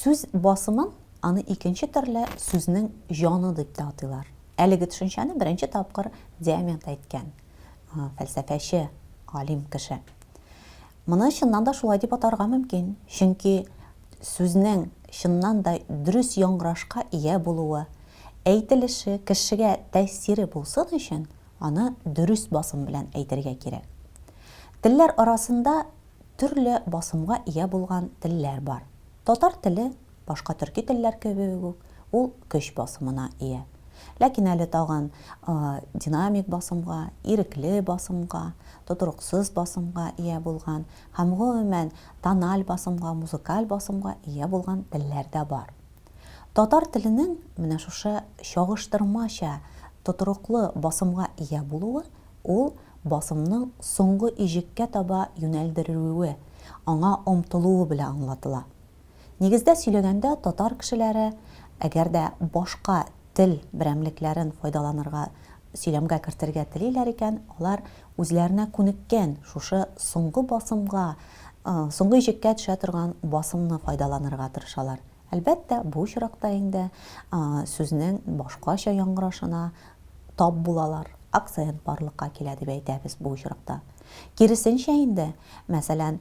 Сүз басымын аны икенче төрле сүзнең җаны дип тә атыйлар. Әлеге төшенчәне беренче тапкыр Диамент әйткән, фәлсәфәче, алим кеше. Моны чыннан да шулай дип атарга мөмкин, чөнки сүзнең чыннан да дөрес яңгырашка ия булуы, әйтелеше, кешегә тәэсире булсын өчен, аны дөрес басым белән әйтергә кирәк. Телләр арасында төрле басымга ия булган телләр бар. Татар теле Башка төрки телләр кебек үк, ул көч басымына ия. Ләкин әле тагын динамик басымга, ирекле басымга, тотрыксыз басымга ия булган һәм, гомумән, тональ басымга, музыкаль басымга ия булган телләр дә бар. Татар теленең менә шушы чагыштырмача тотрыклы басымга ия булуы, ул басымның соңгы иҗеккә таба юнәлдерелүе, аңа омтылуы белән аңлатыла. Нигездә сөйләгәндә, татар кешеләре, әгәр дә башка тел берәмлекләрен файдаланырга, сөйләмгә кертергә телиләр икән, алар үзләренә күнеккән шушы соңгы басымга, соңгы иҗеккә төшә торган басымны файдаланырга тырышалар. Әлбәттә, бу очракта инде сүзнең башкача яңгырашына тап булалар, акцент барлыкка килә дип әйтәбез бу очракта. Киресенчә инде, мәсәлән,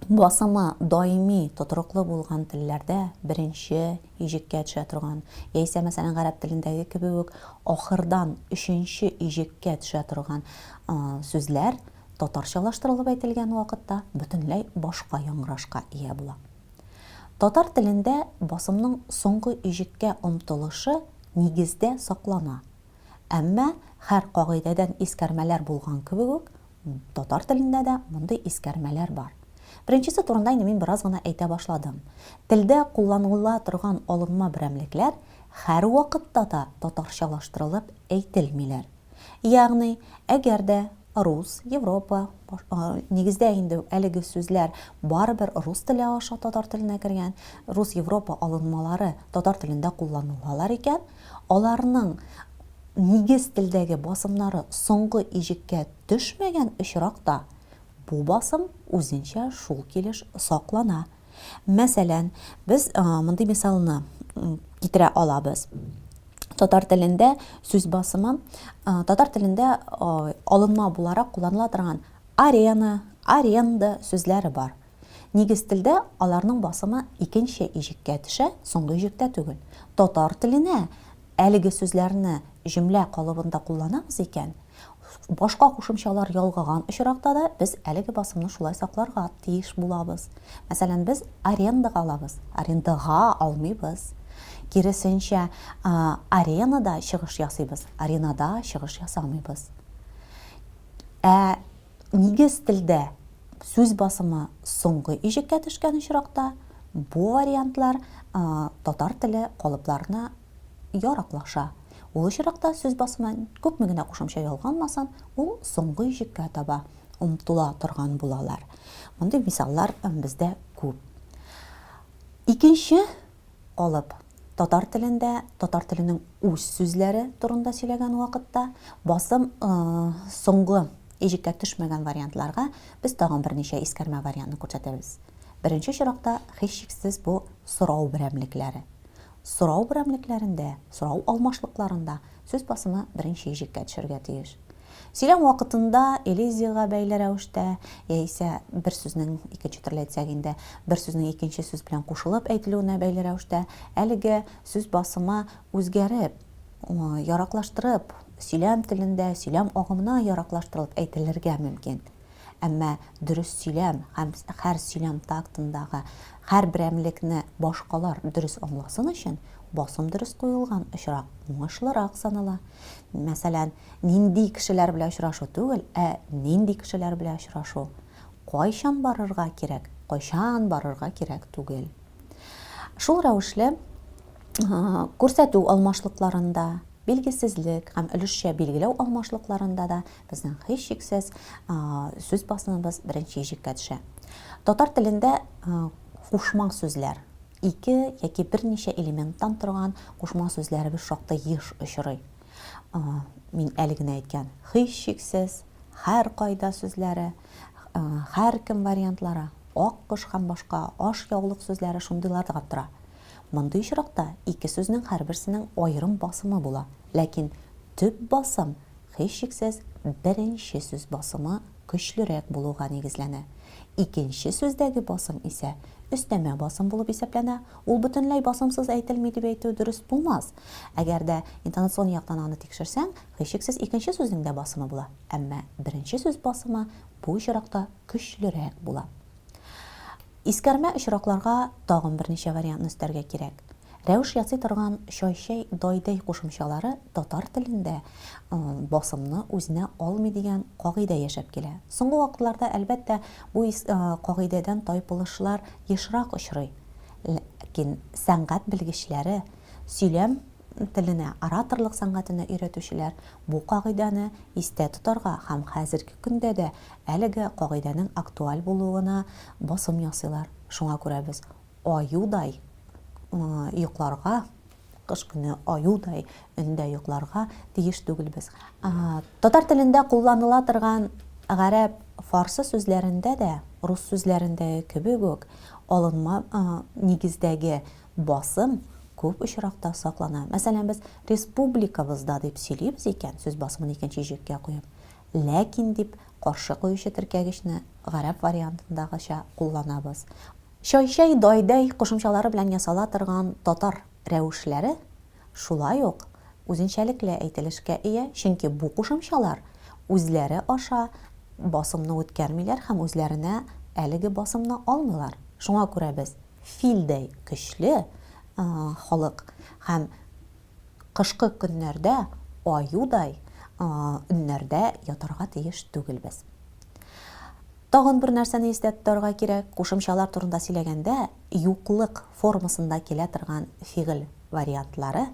басымы даими, тотрыклы булган телләрдә беренче иҗеккә төшә торган, яисә, мәсәлән, гарәп телендәге кебек үк, ахырдан өченче иҗеккә төшә торган сүзләр татарчалаштырылып әйтелгән вакытта бөтенләй башка яңгырашка ия була. Татар телендә басымның соңгы иҗеккә омтылышы нигездә саклана. Әмма, һәр кагыйдәдән искәрмәләр булган кебек үк, татар телендә дә мондый искәрмәләр бар. Беренчесе турында инде мин бераз гына әйтә башладым. Телдә кулланыла торган алынма берәмлекләр һәрвакытта да татарчалаштырылып әйтелмиләр. Ягъни, әгәр дә рус, европа, нигездә инде әлеге сүзләр барыбер рус теле аша татар теленә кергән, рус-европа алынмалары татар телендә кулланылалар икән, Аларның нигез телдәге басымнары соңгы иҗеккә төшмәгән очракта, бу басым үзенчә шул килеш саклана. Мәсәлән, без мондый мисалны китерә алабыз. Татар телендә сүз басымы татар телендә алынма буларак кулланыла торган арена, аренда сүзләре бар. Нигез телдә аларның басымы икенче иҗеккә төшә, соңгы иҗектә түгел. Татар теленә әлеге сүзләрне җөмлә калыбында кулланабыз икән, башка кушымчалар ялгаган очракта да без әлеге басымны шулай сакларга тиеш булабыз. Мәсәлән, без арендага алабыз, арендага алмыйбыз. Киресенчә, аренада чыгыш ясыйбыз, аренада чыгыш ясамыйбыз. Ә Нигез телдә сүз басымы соңгы иҗеккә төшкән очракта, бу вариантлар татар теле калыпларына яраклаша. Ул очракта сүз басымы күпме генә кушымча ялганмасын, ул соңгы иҗеккә таба омтыла торган булалар. Мондый мисаллар бездә күп. Икенче алып, татар телендә татар теленең үз сүзләре турында сөйләгән вакытта, басым соңгы иҗеккә төшмәгән вариантларга без тагын берничә искәрмә вариантны күрсәтәбез. Беренче чиракта, һичшиксез, бу сорау берәмлекләре. Сорау берәмлекләрендә, сорау алмашлыкларында сүз басымы беренче иҗеккә төшәргә тиеш. Сөйләм вакытында элизиягә бәйле рәвештә, яисә бер сүзнең, икенче төрле әйтсәк инде, бер сүзнең икенче сүз белән кушылып әйтелүенә бәйле рәвештә, әлеге сүз басымы үзгәреп, яраклаштырып, сөйләм телендә, сөйләм агымына яраклаштырылып әйтелергә мөмкин. Әмма дөрес сөйләм һәм хәр сөйләм тактындагы хәр берәмлекне башкалар дөрес аңласын өчен басым дөрес куелган очрак уңышлырак санала. Мәсәлән, Нинди кешеләр белән очрашу түгел, ә нинди кешеләр белән очрашу. Кайчан барырга кирәк, кайчан барырга кирәк түгел. Шул рәвешле күрсәтү алмашлыкларында, билгесезлек һәм өлешчә билгеләү алмашлыкларында да безнең һичшиксез сүз басымыбыз беренче иҗеккә төшә. Татар телендә кушма сүзләр, ике яки берничә элементтан торган кушма сүзләребез шактый еш очрый. Мин әле генә әйткән һичшиксез, һәркайда сүзләре, һәркем вариантлары, ак кош һәм башка аш яулык сүзләре шундыйларга тора. Мондый очракта ике сүзнең һәрберсенең аерым басымы була, ләкин төп басым, һичшиксез, беренче сүз басымы көчлерәк булуга нигезләнә. Икенче сүздәге басым исә өстәмә басым булып исәпләнә. Ул бөтенләй басымсыз әйтелми дип әйтү дөрес булмас. Әгәр дә интонационный яктан аны тикшерсәң, һичшиксез икенче сүзнең дә басымы була. Әмма беренче сүз басымы бу очракта көчлерәк була. Искәрмә очракларга тагын берничә вариантны өстәргә кирәк. Рәвеш ясый торган чайчәй дайдәй кушымчалары татар телендә басымны үзенә алмый дигән кагыйдә яшәп килә. Соңгы вакытларда, әлбәттә, бу кагыйдәдән тайпылышлар ешрак очрый. Ләкин сәнгать белгечләре, сөйләм теленә, ораторлык сәнгатенә өйрәтүчеләр бу кагыйдәне истә тотарга һәм хәзерге көндә дә Әлеге кагыйдәнең актуаль булуына басым ясыйлар. Шуңа күрә без аюдай йокларга, кыш көне аюдай өндә йокларга тиеш түгелбез. Татар телендә кулланыла торган гарәп, фарсы сүзләрендә дә, рус сүзләрендәге кебек үк, алынма нигездәге басым күп очракта саклана. Мәсәлән, без республикабызда дип сөйлибез икән, сүз басымын икенче җөккә куеп, Ләкин дип каршы куючы теркәгечне гарәп вариантындагыча кулланабыз. Чайчай, дайдәй кушымчалары белән ясала торган татар рәвешләре шулай ук үзенчәлекле әйтелешкә ия, чөнки бу кушымчалар үзләре аша басымны үткәрмиләр һәм үзләренә әлеге басымны алмыйлар. Шуңа күрә без филдәй көчле халык һәм. Кышкы көннәрдә аюдай өннәрдә ятарга тиеш түгелбез. Тагын бер нәрсәне истә тотарга кирәк, кушымчалар турында сөйләгәндә, юклык формасында килә торган фигыль вариантлары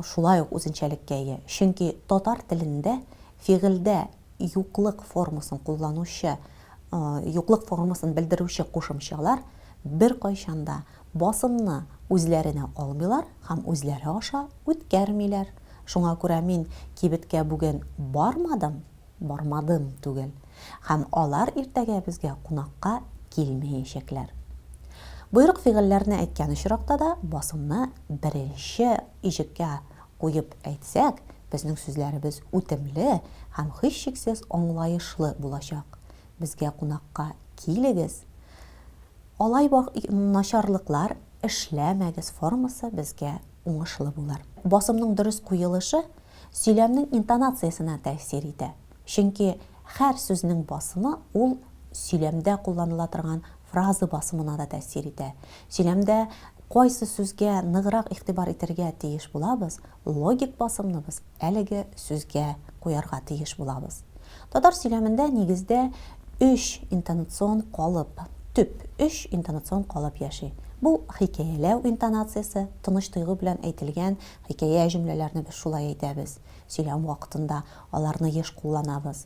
шулай ук үзенчәлеккә ия, чөнки татар телендә фигыльдә юклык формасын кулланучы, юклык формасын белдерүче кушымчалар беркайчан да Басымны үзләренә алмыйлар һәм үзләре аша үткәрмиләр. Шуңа күрә мин кибеткә бүген бармадым, бармадым түгел. Һәм алар иртәгә безгә кунакка килмәячәкләр. Боерык-фигыльләрне әйткән очракта да басымны беренче иҗеккә куеп әйтсәк, безнең сүзләребез үтемле һәм һичшиксез аңлаешлы булачак. Безгә кунакка килегез. Алай бак начарлыклар эшләмәгез формасы безгә уңышлы булыр. Басымның дөрес куелышы сөйләмнең интонациясенә тәэсир итә. Чөнки хәр сүзнең басымы ул сөйләмдә кулланыла торган фразы басымына да тәэсир итә. Сөйләмдә кайсы сүзгә ныграк игътибар итергә тиеш булабыз, логик басымны без Әлеге сүзгә куярга тиеш булабыз. Татар сөйләмендә, нигездә, өч интонацион калып, төп өч интонацион калып яши. Бу, хикәяләү интонациясе, тыныч тойгы белән әйтелгән хикәя җөмләләрне без шулай әйтәбез, сөйләм вакытында аларны еш кулланабыз.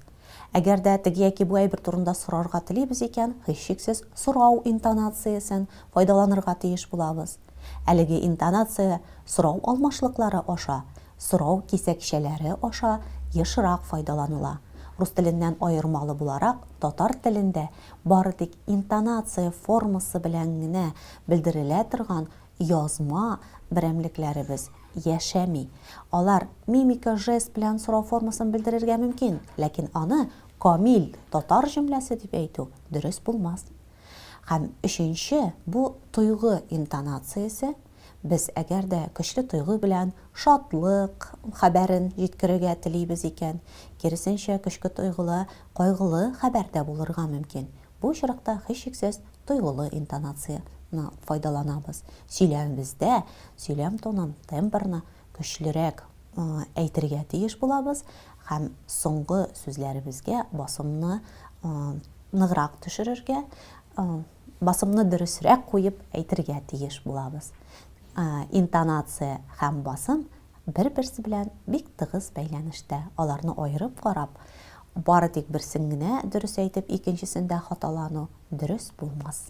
Әгәр дә теге яки бу әйбер турында сорарга телибез икән, һичшиксез, сорау интонациясен файдаланырга тиеш булабыз. Әлеге интонация сорау алмашлыклары аша, сорау кисәкчәләре аша ешрак файдаланыла. Рус теленнән аермалы буларак, татар телендә бары тик интонация формасы белән генә белдерелә торган язма берәмлекләребез яшәми. Алар мимика, жест белән сорау формасын белдерергә мөмкин, ләкин аны камил татар җөмләсе дип әйтү дөрес булмас. Һәм өченче, бу тойгы интонациясе, без әгәр дә көчле тойгы белән шатлык хәбәрен җиткерергә телибез икән, киресенчә, көчке тойгыла кайгылы хәбәр дә булырга мөмкин. Бу очракта, һичшиксез, тойгылы интонацияне файдаланабыз. Сөйләмебездә сөйләм тонын, тембрны көчлерәк әйтергә тиеш булабыз һәм соңгы сүзләребезгә басымны ныграк төшерергә, басымны дөресрәк куеп әйтергә тиеш булабыз. Интонация һәм басым бер-берсе белән бик тыгыз бәйләнештә. Аларны аерып карап, бары тик берсен генә дөрес әйтеп, икенчесендә хаталану дөрес булмас.